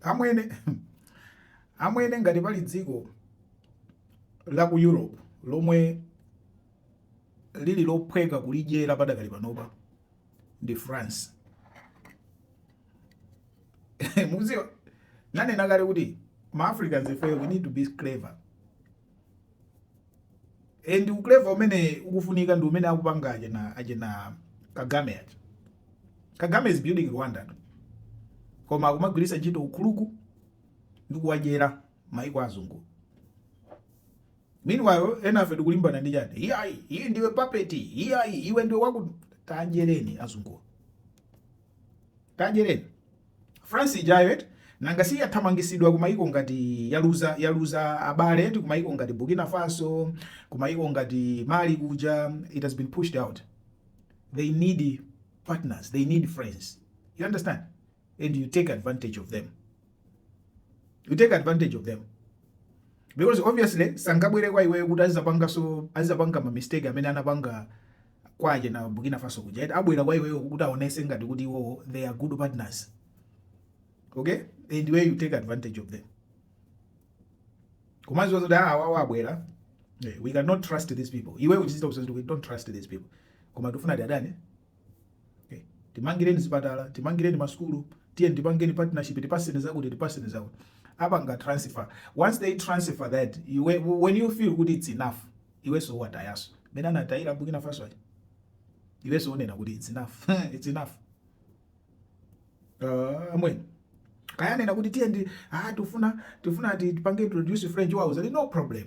Amwene, amwene ngati pali dziko la ku Europe lomwe lili lophweka kulidyera padakali panopa ndi France. Mukudziwa, ndanena kale kuti ma Africans ifeyo we need to be clever. and ukleva umene ukufunika ndi umene akupanga achina achina kagame aja kagame is building rwanda koma akumagwiritsa ntchito ukuluku ndi kuwadyera maiko azungu meanwhile enafe tikulimbana ndi chiyani iyayi iyi ndiwe papeti iyayi iwe ndiwe waku tanjereni azungu Kadyereni France ijayo eti nanga si yathamangisidwa kumayiko ngati yaluza yaluza abale eti kumayiko ngati Burkina Faso kumayiko ngati Mali kuja it has been pushed out they need partners they need friends you understand and you take advantage of them you take advantage of them because obviously sangabwere kwa iweyo kuti azidzapanganso azidzapanga ma mistake amene anapanga kwa achina Burkina Faso kuja eti abwera kwa iweyo kuti aonese ngati kuti iwowo they are good partners okay and where you take advantage of them kumadziwa zoti ah, awawa abwera eh, we cannot trust these people iwe ukuchita kudziwa zoti we don't trust these people koma tifuna tiwadye okay. timangireni zipatala timangireni masukulu tiyeni tipangeni partnership tipatseni zakuti tipatseni zakuti apanga transfer once they transfer that you, when you feel kuti it's enough iwenso uwatayanso mmene anatayira a Burkina Faso aja iwenso unena kuti it's enough it's enough uh, amwene kaya anena kuti tiye ndi ah tifuna tifuna tipange introduce French wawo zayi no problem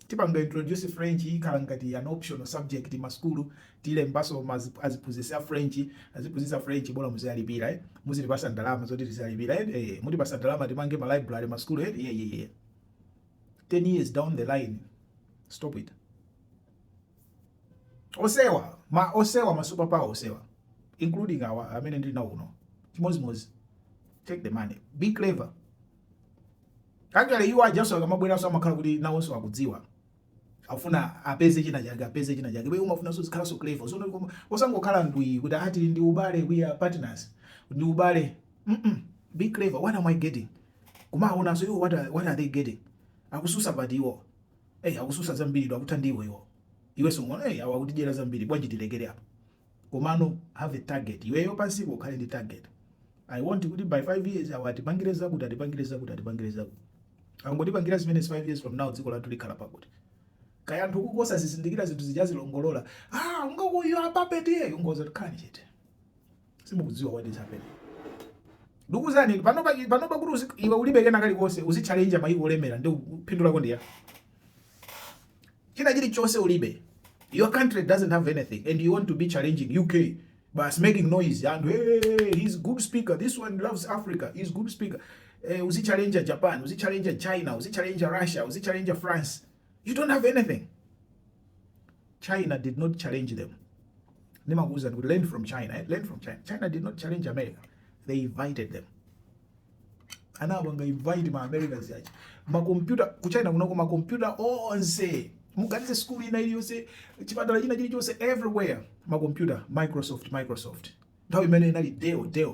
tipanga introduce French ikhala ngati an optional subject masukulu tilembanso aziphunzitsi a French aziphunzitsi a French bola muziwalipira eh muzitipatsa ndalama zoti tiziwalipira eh, eh mutipatsa ndalama timange ma library masukulu eh yeah, yeah, yeah. 10 years down the line stop it onsewa ma onsewa ma super power onsewa including awa amene ndili nawo kuno chimodzimodzi take the money be clever actually iwo ajanso akamabweranso amakhala kuti nawonso akudziwa afuna apeze china chake apeze china chake bwino umafunanso uzikhalanso clever nso koma osangokhala ndwi kuti ati ndi ubale we are partners ndi ubale mm -mm. be clever what am i getting kumawaonanso iwo what are, what are they getting akususa zingati iwo hey, akususa zambiritu akutha ndiwo iwo iwenso nkuona hey, awa akutidyera zambiri bwanji tilekere apo komano have a target iweyo pansipo ukhale ndi target i want kuti by 5 years awa atipangire zakuti atipangire zakuti atipangire zakuti angotipangira zimene 5 years from now dziko lathu likhala pakuti kaya anthu nkudzazizindikira zinthu zija azilongolola ah ujeniuyo ndi papeti iyeyo ingokhalani chete simukudziwa what is happening ndikuuzani pano pa pano pa kuti iwe ulibe kena kali konse uzi challenge maiko olemera ndi phindu lako ndi chani chili chose ulibe your country doesn't have anything and you want to be challenging UK but making noise and hey, he's good speaker this one loves Africa he's good speaker eh, uzi challenge Japan uzi challenge China uzi challenge Russia uzi challenge France you don't have anything china did not challenge them ndimakuwuzani kuti learn from china eh? learn from china china did not challenge america they invited them anawa invite ma americans achi makompyuta ku china kunoko makompyuta onse muganize sukulu ina iliyonse chipatala china chilichonse everywhere makompyuta microsoft microsoft nthawi imeneyo inali dell dell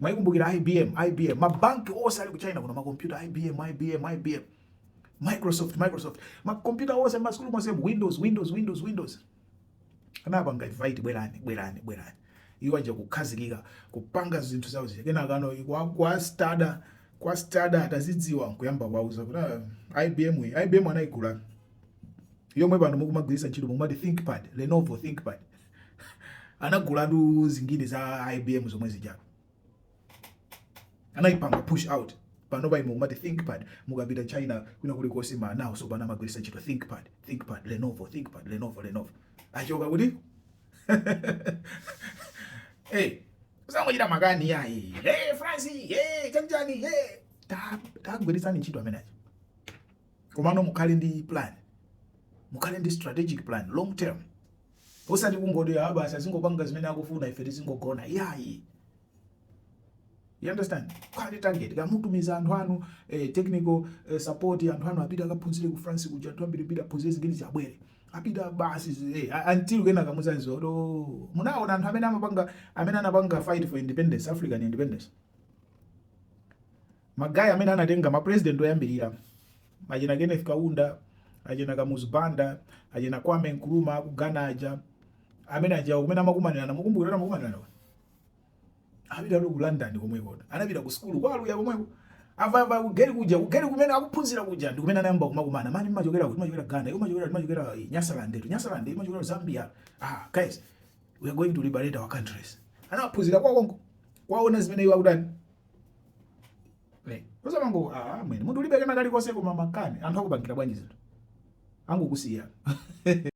mukukumbukira ibm ibm mabanki onse ali ku china kuno makompyuta ibm ibm ibm microsoft microsoft makompyuta onse mmasukulu monse windows windows windows windows anapanga invite bwerani bwerani bwerani iwo aja kukhazikika kupanga zinthu zawo zija kenaka anakastada kastada atazidziwa nkuyamba kuwauza kuti ah, ibm iyi ibm anayigula yomwe pano mukumagwiritsa ntchito mukumati thinkpad lenovo thinkpad anagulatu zinthu za ibm zomwe zijapo anaipanga push out panopa imene mumati thinkpad mukapita china kwina kulikonse manawo tsopano amagwiritsa ntchito thinkpad thinkpad lenovo thinkpad lenovo lenovo achokera kuti hey, usangochita makani yayi hey, france hey, chanichani hey. Ta- tagwiritsani ntchito ameneyo komano mukhale ndi plan mukhale ndi strategic plan long term osati kungoti ah basi azingopanga zimene akufuna ife tizingogona yayi You understand? Quality target. Kumatumiza anthu anu eh, technical eh, support anthu anu apita akaphunzire ku France kuja anthu ambiri apite aphunzire zinthuzi abwere. Apita basi eh, until kenaka muza izo. Oh, munaona anthu amene amapanga amene anapanga fight for independence, African independence. Magaye amene anatenga ma president oyambirira. Achina Kenneth Kaunda, achina Kamuzu Banda, achina Kwame Nkrumah ku Ghana aja. Amene aja kumene amakumanirana, mukumbukira amakumanirana. Anapita ku London komweko. Anapita ku sukulu kwa Ulaya komweko. Ava ava ku gate kuja, ku gate kumene akuphunzira kuja ndi kumene anayamba kumakumana. Man mumachokera kuti ndimachokera Ghana, iwo machokera machokera eh, Nyasaland, tu Nyasaland, iwo machokera Zambia. Ah, guys, we are going to liberate our countries. Anaphunzira kaye konko. Kuona zimene iwo akutani. Eh, osamango ah, mwene. Munthu ulibe kana kali konse koma makani. Anthu akupangira bwanji zinthu. Angokusiya.